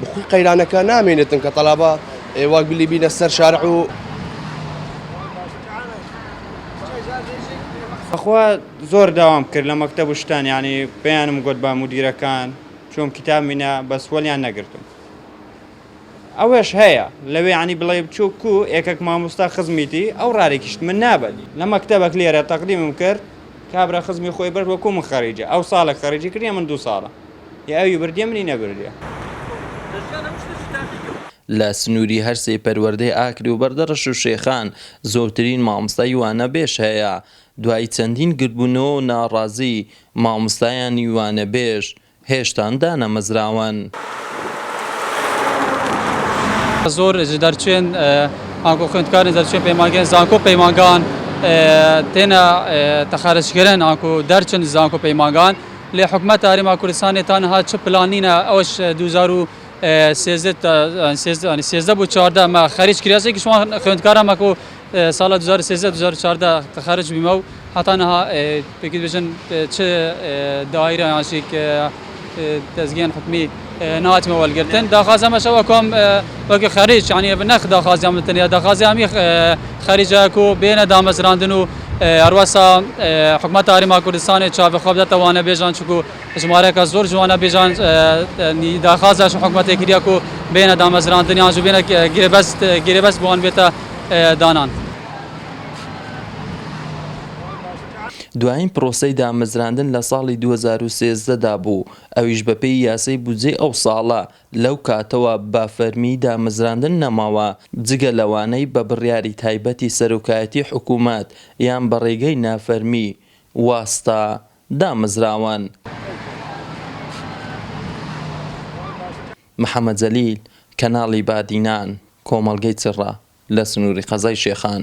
بخۆی قەیرانەکە نامێنێتن کە تەلابە وەک بلی بینە سەر شارع و بەخوا زۆر داوام کرد لە مەکتەب و شتان یعنی پێیانم گوت بە مدیرەکان چۆم کتاب مینە بەس وەلیان نەگرتم ئەوەش هەیە لەوێ عنی بڵێ بچوو کو ئێکک مامۆستا خزمیتی ئەو ڕارێکیشت من نابەت لە مەکتەبەک لێرە تەقدیمم کرد کابرا خزمی خۆی برد وەکو من خەریجە ئەو ساڵێک خەریجی کردە من دوو ساڵە ئێ ئەوی بردیە منی نەبردیە. لە سنووری هەر سێ پەروەردەی ئاکرێ و بەردەڕەش و شێخان زۆرترین مامۆستای وانەبێژ هەیە، دوای چەندین گردبوونەوە و ناڕازی مامۆستایانی وانەبێژ هێشتان دانەمەزراون. زۆر ژ دەرچوێن ئانکۆ خوێندکارن دەرچوێن پەیمانگەێن زانکۆ پەیمانگان تێنە تەخارەجکەرەن ئانکۆ دەرچن زانکۆ پەیمانگان. لێ حکومەت هەرێما کوردستانێ تا نها چ پلان نینە ئەوەش دوو هەزار و سێزدە تا سێزدە یانی سێزدە بو چاردە مە خەریج کریا سێ کیش وان خوێندکارا مە کو سالا دوو هەزار و سێزدە دوو هەزار و چاردە خەرج بیمە و هەتا نها پێکی بژن چ دایرە یان شی ک دەزگیان حکومی ناتمە وەلگرتن داخازەمە شەوە کۆم وەگە خەریج یعنی بە نەخ داخازیان من تەنیا داخازیامی خەریجە کو بێنە دامەزراندن و هەروەسا حکومەت تاریما کوردستانی چاوی خۆ بدەتە وانە بێژان چکو ژمارەکە زۆر جوانە بێژان داخازاش حکومەتی کریا کو بێنە دامەزراندنیان جو بێنە گرێبەست گرێبەست بۆن بێتە دانان. دوایین پرۆسەی دامەزراندن لە ساڵی دوو هەزار و سێزدە دا بوو ئەویش بەپێی یاسای بودجەی ئەو ساڵە، لەو کاتەوە بە فەرمی دامەزراندن نەماوە، جگە لەوانەی بە بڕیاری تایبەتی سەرۆکایەتیی حکوومەت یان بە ڕێگەی نافەرمی، واستا، دامەزراون. محەمەد جەلیل، کەناڵی بادینان، کۆمەڵگەی چڕە لە سنووری قەزای شێخان.